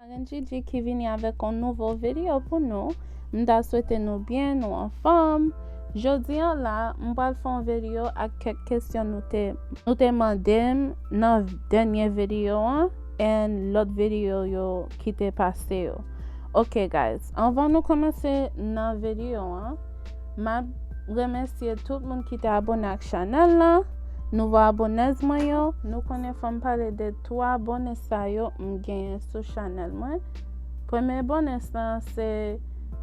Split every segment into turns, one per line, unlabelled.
Marenn Djidji ki vini avèk yon nouvo video pou nou, m ta swete nou byen, nou anfòm, jodi an la m pral fè yon video ak kèk kesyon nou te nou te mande m nan dènye video an and lòt video yo ki te pase yo ok guys anvan nou kòmanse nan video an map remèsye tout moun ki te abone ak chanèl la nouvo abonnez mwen yo nou konnen fòm pale de 3 abone sa yo m genyen sou chanel mwen premye abone sa se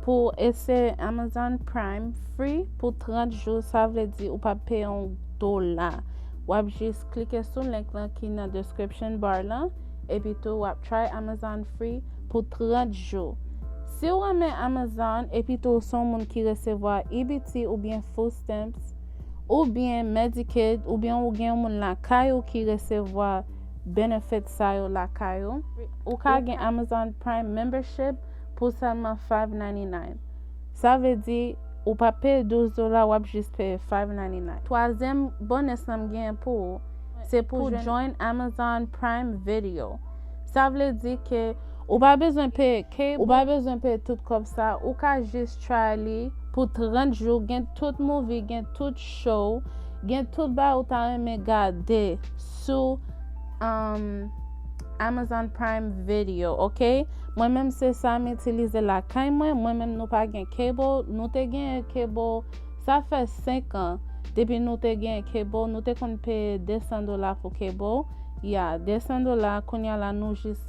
pou ese amazon prime free pou 30 jou sa vle di ou pa peye yon dola wap jis klike sou link lan ki nan description bar lan epi tou wap try amazon free pou 30 jou si ou remen amazon epi tou son moun ki resevwa ebt ou bien food stamps oubyen Medicaid oubyen ou gen yon moun lakay ou ki resevwa benefit sa yo lakay ou, ou ka gen Amazon Prime Membership pou sèlman 5.99. Sa vle di, ou pa peye 12 dola wap jis peye 5.99. Twazyèm bonus lan m genyen pou ou, se pou jwenn Amazon Prime Video. Sa vle di ke Ou pa bezwen peye cable, ou pa bezwen peye tout kòb sa, ou ka jis try li pou 30 jou gen tout movie gen tout show gen tout bagay ou ta renmen gade sou um Amazon prime video ok mwen menm se sa m itilize lakay mwen mwen menm nou pa gen cable nou te gen cable sa fè 5 an depi nou te gen cable nou te konn peye 200 dola pou cable Ya, 200 dola, kounya la nou jis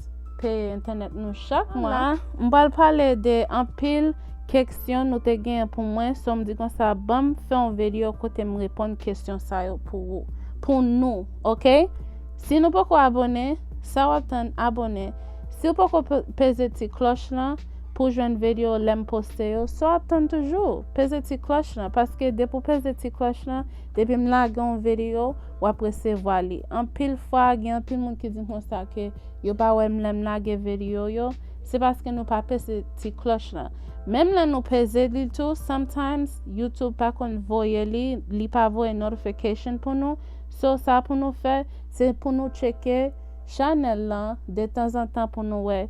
peye entènèt nou chak mwa. La, m pral pale de anpil keksyon nou te genyen pou mwen, so m di konsa banm fè yon vedyo kote m reponn kesyon sa yo pou ou, pou nou, ok? Si nou poko abone, sa wap tann abone, si w poko peze ti klòch lan pou jwenn vedyo lè m poste yo, sa wap tann toujou, peze ti klòch lan, paske depi w peze ti klòch lan, depi m lage yon vedyo, w ap resevwa li. Anpil fwa, gen anpil moun ki di m konsa ke yo pa wè m lè m lage vedio yo, se paske nou pa peze ti klòch lan. Menm lè nou peze li tou, sometimes YouTube pa konn voye li, li pa voye notification pou nou. So, sa pou nou fè, se pou nou tcheke chanèl lan detanzantan pou nou wè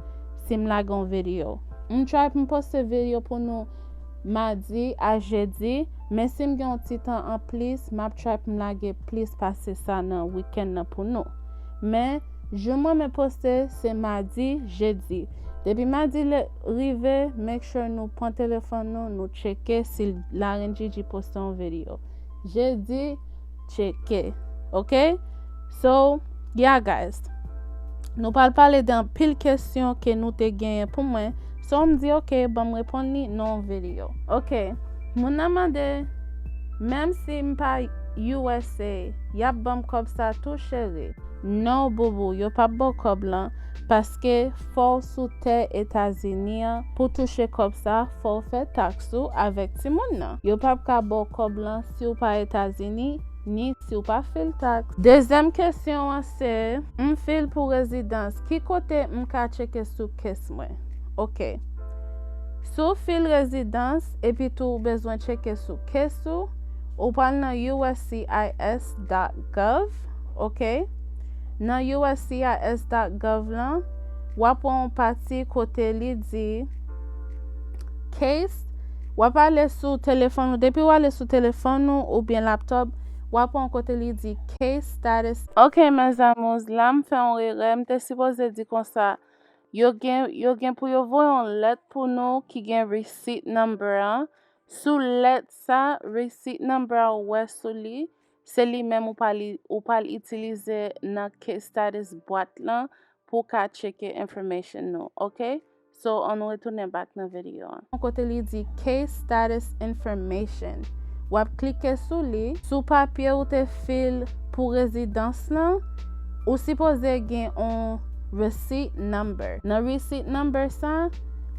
si m lage yon vedio. M try pou m poste vedio pou nou. Madi a Jedi, men si m gen yon ti tan an plis, m ap try pou m lage plis pase sa nan wikenn nan pou nou. Men, jou m renmen poste, se Madi, Jedi. Depi Madi rive, make sure nou pran telefòn nou, nou tcheke si Larenndjidji poste yon video. Jedi. Tcheke ok So yeah guys Nou pral pale de anpil kesyon ke nou te genyen pou mwen So m di ok banm reponn li nan yon video Ok Moun nan mande Menm si m pa usa yap banm kòb sa tou cheri? No booboo yo pap baw kòb lan paske fòw sou tè etazini an pou touche kòb sa fòw fè tax ou avèk timoun nan yo pap ka baw kòb lan si w pa Etazini, ni si w pa fil taks. Dezyèm kesyon an se, M fil pou rezidans, ki kote m ka tcheke sou case mwen? Ok. Si w fil rezidans, epitou ou bezwen tcheke sou case ou, ou pral nan uscis dot gov, ok. Nan uscis dot gov lan, w ap wè yon pati kote li di Case, W ap ale sou telefòn ou, depi w ale sou telefòn ou oubyen laptop, w ap wè yon kote li di Case Status. Ok mes amours, la m fè yon erè, m te sipoze di konsa, yo gen yo gen pou yo voye yon lèt pou nou ki gen Receipt Number an, sou lèt sa, Receipt Number a ou wè sou li, Se li menm ou pral ou pral itilize nan case status bwat lan pou ka tcheke information nou ok so an nou retounen back nan video an. Kote li di case status information wap klike sou li sou papye ou te fil pou rezidans lan ou sipoze gen on receipt number nan receipt number sa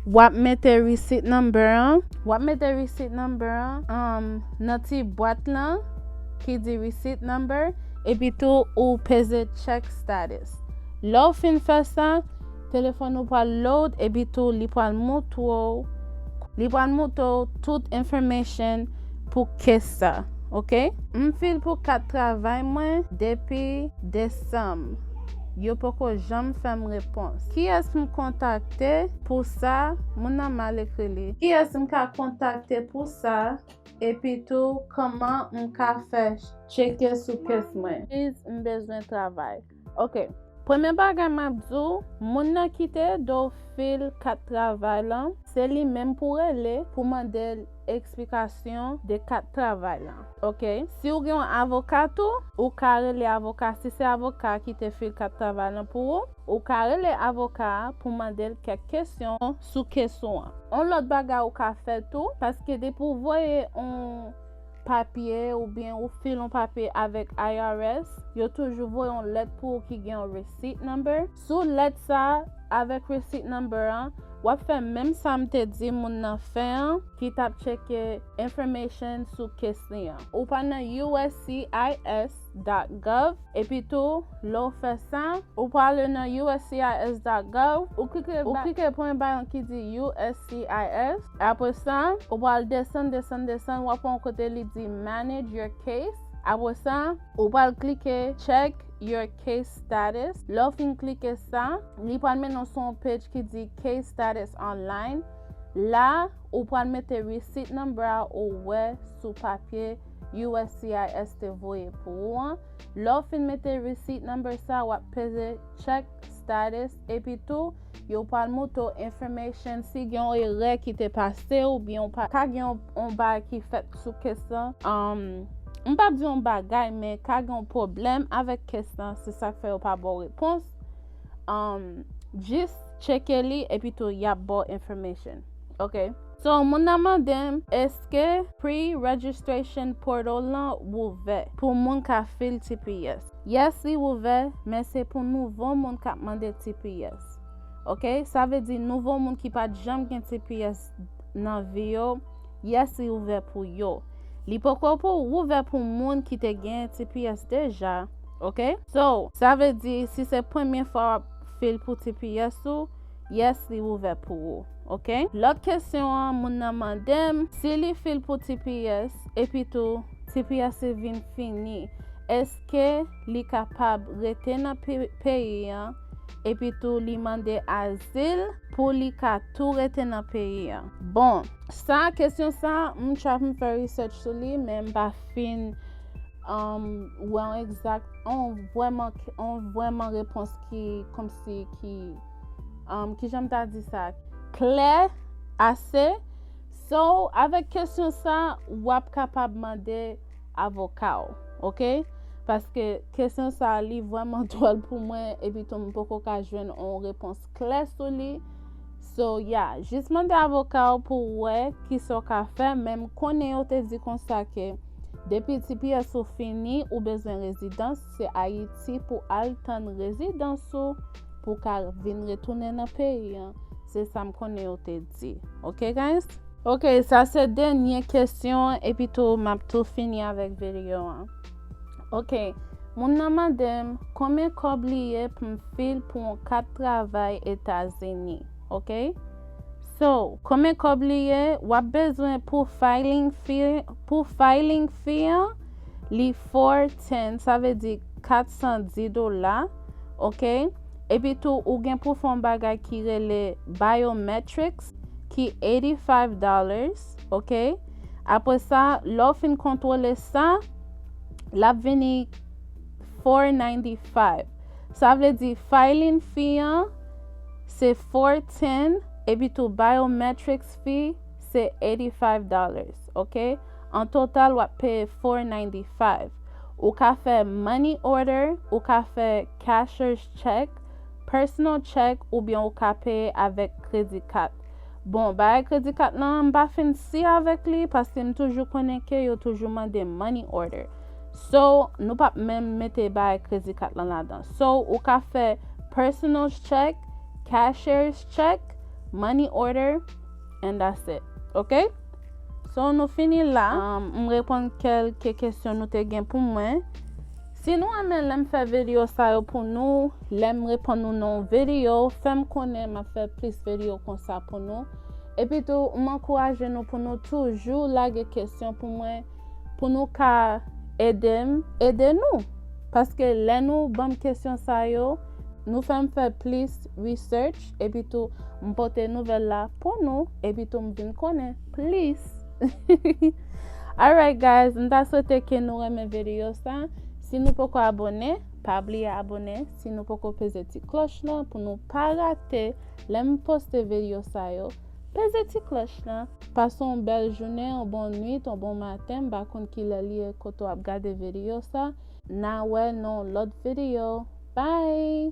wap mete receipt number an wap mete receipt number an Nan ti bwat lan ki di Receipt Number. Epitou ou peze Check Status. Lè w fin fè sa, telefòn ou pral load epitou li pral moutre w li pral moutre w tout information pou case sa. Ok. M file pou kat travay mwen depi desanm yo poko janm fèm repons kiyès m kontakte pou sa moun nan mal ekri li. Kiyès m ka kontakte pou sa epitou kman m ka fè tcheke sou kes mwen. Please m bezwen travay ok. Premye bagay map di w moun nan kite do w fil kat travay lan se li menm pou w rele pou mande l eksplikasyon de kat travay lan ok si w gen yon avoka tou ou ka rele avoka si se avoka ki te fil kat travay lan pou ou. Ou ka rele avoka a pou mande l kèk kesyon sou kes ou an. On lòt bagay ou ka fè tou, paske depi ou voye on papye oubyen ou file on papye avèk IRS, yo toujou voye on lèt pou ou ki gen on receipt number. Sou lèt sa a avèk receipt number an, w ap fè menm sa m te di moun nan fè an ki t ap tcheke information sou kes li an. Ou pa nan uscis. uscis.gov epi tou lè ou fè sa ou prale nan uscis.gov ou klike pou yon bayon ki di uscis apre sa ou pral desann desann desann wap wè yon kote li di manage your case apre sa ou pral klike check your case status lè ou fin klike sa li pral mennen w sou yon page ki di case status online la ou pral mete receipt number a ou wè sou papye. uscis te voye pou ou an. Lè w fin mete receipt number sa, w ap peze check status epi tou yo pral moutre w information si gen yon erè ki te pase oubyen ou ka gen yon bagay ki fèt sou case lan. M pap di yon bagay men ka gen yon pwoblèm avèk case lan se sak fè yo pa ba w repons. Jis tcheke li epi tou y ap ba w information. Ok So moun nan mandem eske pre registration portal lan wouvè pou moun ka fil tps yes li wouvè men se pou nouvo moun kap mande tps ok sa vle di nouvo moun ki pat janm gen tps nan vi yo yes li ouvè pou yo li poko pou wouvè pou moun ki te gen tps deja ok so sa vle di si se premye fwa wap fil pou tps ou Yes li ouvè pou ou ok. Lòt kesyon an moun nan mandem si li fil pou tps epi tou tps li vin fini eske li kapab rete nan peyi an epi tou li mande azil pou li ka tou rete nan peyi an bon sa kesyon sa m trap m fè research sou li men m pa fin um, wè on egzak on vwèman on vwèman repons ki komsi ki um, ki janm ta di sa, klè ase. So, avèk kesyon sa, wap kapab mande avoka ou, ok? Paske kesyon sa li vwèman dwòl pou mwen, epi tou m poko ka jwenn on repons klè sou li. So, ya, yeah, jis mande avoka ou pou wè ki so ka fè, menm konnen yo te di konsa ke depi TPS ou fini, ou bezwen rezidans, se ayiti pou al tann rezidans ou pou ka vin retounen nan peyi an se sam konnen yo te di ok guys. Ok sa se dènye kesyon epi tou map tou fini avèk video an ok moun nan mandem konbyen kòb li ye pum fil pou yon kat travay etazini ok so. Konbyen kòb li ye wap bezwen pou filing fi pou filing fi an Li four ten sa vle di 410 dola ok epi tou ou gen pou fon bagay ki rele biometrics ki 85 dollars ok apre sa lè w fin kontwole sa lap vini 495 sa vle di filing fee an se 410 epi tou biometrics fee se 85 dollars. ok an total wap peye 495 ou ka fè money order ou ka fè cashers check personal check oubyen ou ka peye avèk kredi kat bon bagay kredi kat lan m pa fin si avèk li paske m toujou konnen ke yo toujou mande money order so nou pap menm mete bagay kredi kat lan ladan so ou ka fè personal check cashers check money order and that's it ok so nou fini la m reponn kelke kesyon nou te gen pou mwen si nou renmen lèm fè video sa yo pou nou lèm reponn nou nan yon video fèm konnen m ap fè plis video konsa pou nou epitou m ankouraje nou pou nou toujou lage kesyon pou mwen pou nou ka edem ede nou paske lè nou banm kesyon sa yo nou fèm fè plis research epitou m pote nouvèl la pou nou epitou m vin konnen plis alright guys m ta swete ke nou renmen video sa si nou poko abone pa bliye abone si nou poko peze ti kloch lan pou nou pa rate lè m poste video sa yo peze ti kloch lan pase yon bèl jounen yon bon nwit yon bon maten m pa konn kilè li ye kote w ap gade video sa na wè nan yon lòt video bye